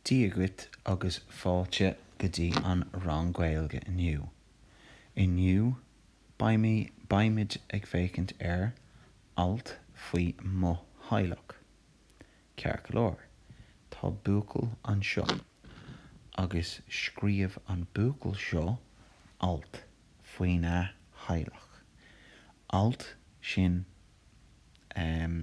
Dia dhuit agus fáilte go dtí an rang Gaeilge inniu. Inniu, beimid, beimid ag féachaint ar alt faoi mo theaghlach. Ceart go leor, tá buachaill anseo agus scríobh an buachaill seo alt faoina theaghlach. Alt sin eh.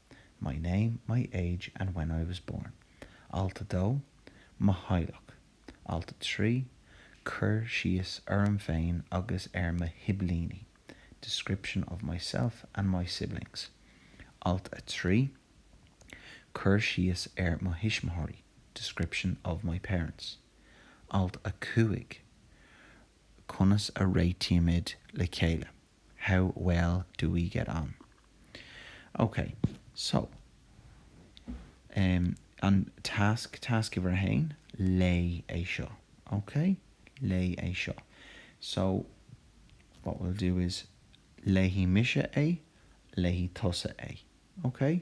My name, my age and when I was born, alt 2, Mo theaghlach, alt 3, Cur síos orm féin agus ar mo shiblíní, Description of myself and my siblings, alt 3, Cur síos ar mo thuismitheoirí, Description of my parents, alt 5, Conas a réitímid le chéile. How well do we get on? Ok, so um an task, tasc uimhir a haon, léigh é seo. Ok? Léigh é seo. So what we'll do is léifidh mise é, léifidh tusa é. Ok?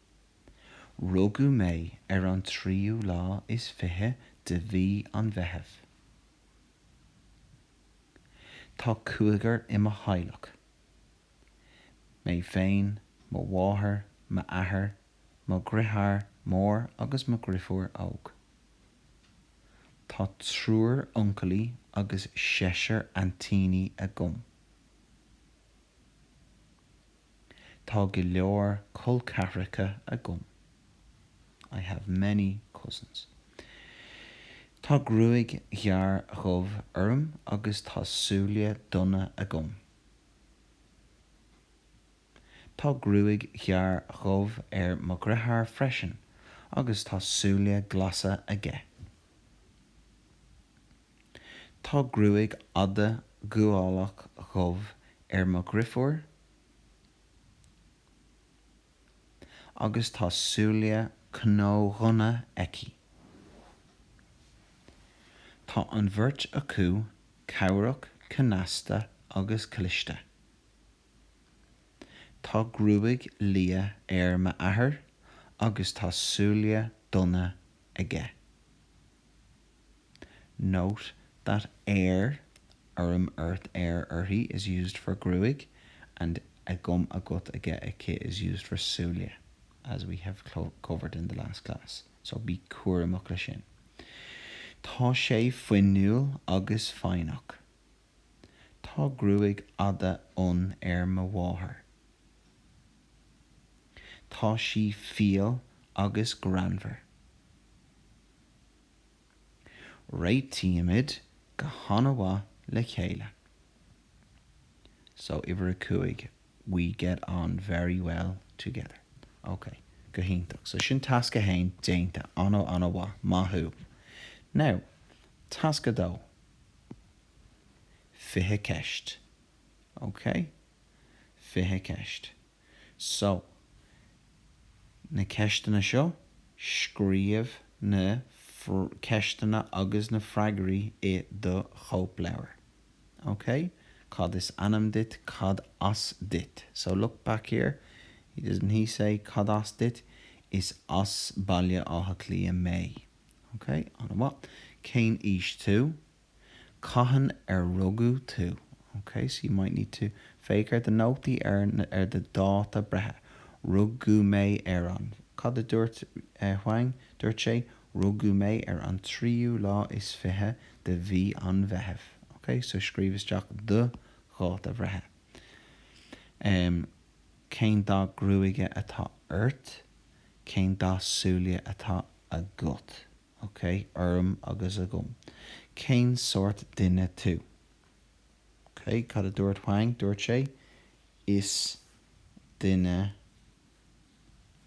Rugadh mé ar an tríú lá is fiche de mhí an Mheithimh. Tá cúigear i mo theaghlach, mé féin, mo mháthair, m'athair, mo dheartháir mór agus mo dheirfiúr óg. Tá triúr uncailí agus seisear aintíní agam. Tá go leor col ceathracha agam. I have many cousins. Tá gruaig ghearr dhubh orm agus tá súile donna agam. Tá gruaig ghearr dhubh ar mo dheartháir freisin agus tá súile glasa aige. Tá gruaig fhada ghualach dhubh ar mo dheirfiúr agus tá súile cnódhonna aici. Tá an bheirt acu cabhrach, cneasta agus cliste. Tá gruaig liath ar m'athair agus tá súile donna aige. Note that air, orm ort air uirthi is used for gruaig, and agam agat aige aici is used for súile, as we have covered in the last class, so bí cúramach leis sin. Tá sé fuinniúil agus foighneach. Tá gruaig fhada fhionn ar mo mháthair. Tá sí fial agus greannmhar. Réitímid go han-mhaith le chéile. So, uimhir a cúig, we get on very well together. Ok, go hiontach. So sin tasc a haon déanta. Ana, ana mhaith. Maith thú. Now, tasc a dó. Fiche ceist. Ok? Fiche ceist. So, na ceisteanna seo, scríobh na ceisteanna agus na freagraí i do chóipleabhar. OK? Cad is ainm duit? Cad as duit? So, look back here. Doesn't he say cad as duit? Is as Baile Átha Cliath mé. OK? An-mhaith. Cén aois tú? Cathain ar rugadh tú? OK, so you might need to Féach ar do nótaí ar na, ar do dháta breithe. Rugadh mé ar an. Cad a dúirt eh Huang? Dúirt sé, Rugadh mé ar an tríú lá is fiche de mhí an Mheithimh. OK, so scríobh isteach do dháta bhreithe. Em, cén dath gruaige atá ort? Cén dath súile atá agat? OK, orm agus agam. Cén sórt duine tú? OK, cad a dúirt Huang? Dúirt sé, Is duine.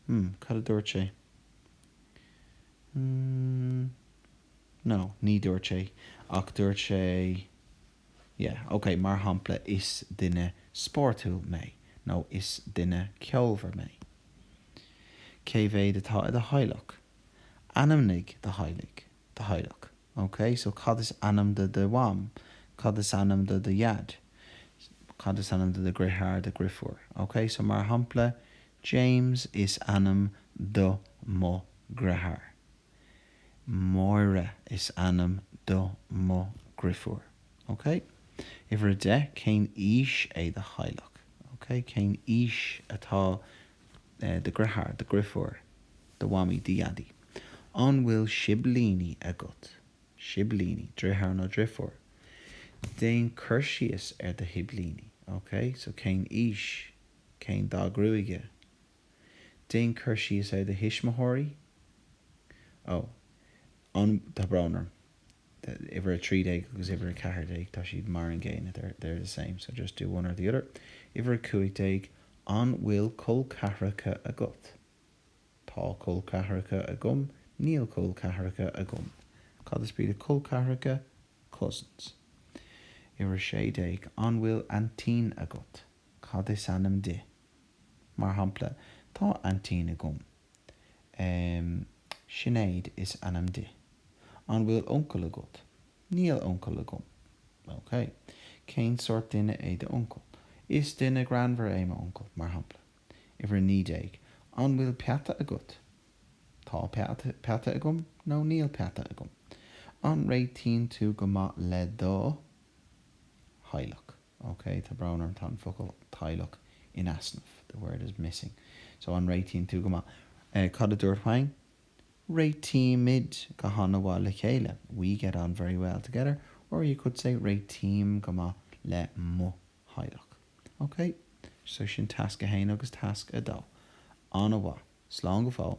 Hmm, cad a dúirt sé? Hmm. No, ní dúirt sé, ach dúirt sé, Yeah, OK, mar shampla, Is duine spórtúil mé nó Is duine ceolmhar mé. Cé mhéad atá i do theaghlach? Ainmnigh do theaghlaigh, do theaghlach. OK, so cad is ainm do do mham? Cad is ainm do do dhaid? Cad is ainm do do dhritheár, do dhrifiúr? OK, so mar shampla, James is ainm do mo dhritheár. Máire is ainm do mo dhrifiúr. OK? Uimhir a deich, cén aois é do theaghlach? OK, cén aois atá do dheartháir, do dheirfiúr, do mhamaí, do dhaidí, An bhfuil siblíní agat? siblíní, deartháir nó deirfiúr, Déan cur síos ar do shiblíní, OK, so cén aois? cén dath gruaige? Déan cur síos ar do thuismitheoirí? Oh, an, tá brón orm. uimhir 13 agus uimhir 14, tá siad mar an gcéanna, they're the same, so just do one or the other. Uimhir 15, An bhfuil col ceathracha agat? Tá col ceathracha agam. Níl col ceathracha agam. Cad is brí le col ceathracha? Cousins. Uimhir 16, An bhfuil aintín agat? Cad is ainm di? Mar shampla, Tá aintín agam. Sinéad is ainm di. An bhfuil uncail agat? Níl uncail agam. OK. Cén sórt duine é d'uncail? Is duine greannmhar é m'uncail, mar shampla. Uimhir a naoi déag. An bhfuil peata agat? Tá peata agam nó níl peata agam. An réitíonn tú go maith le do theaghlach? OK, tá brón orm, tá an focal teaghlach in easnamh, the word is missing. So, an réitíonn tú go maith? Cad a dúirt Juan? Réitímid go han-mhaith le chéile, we get on very well together, or you could say réitím go maith le mo theaghlach. OK? So, sin tasc a haon agus tasc a dó. An-mhaith. Slán go fóill.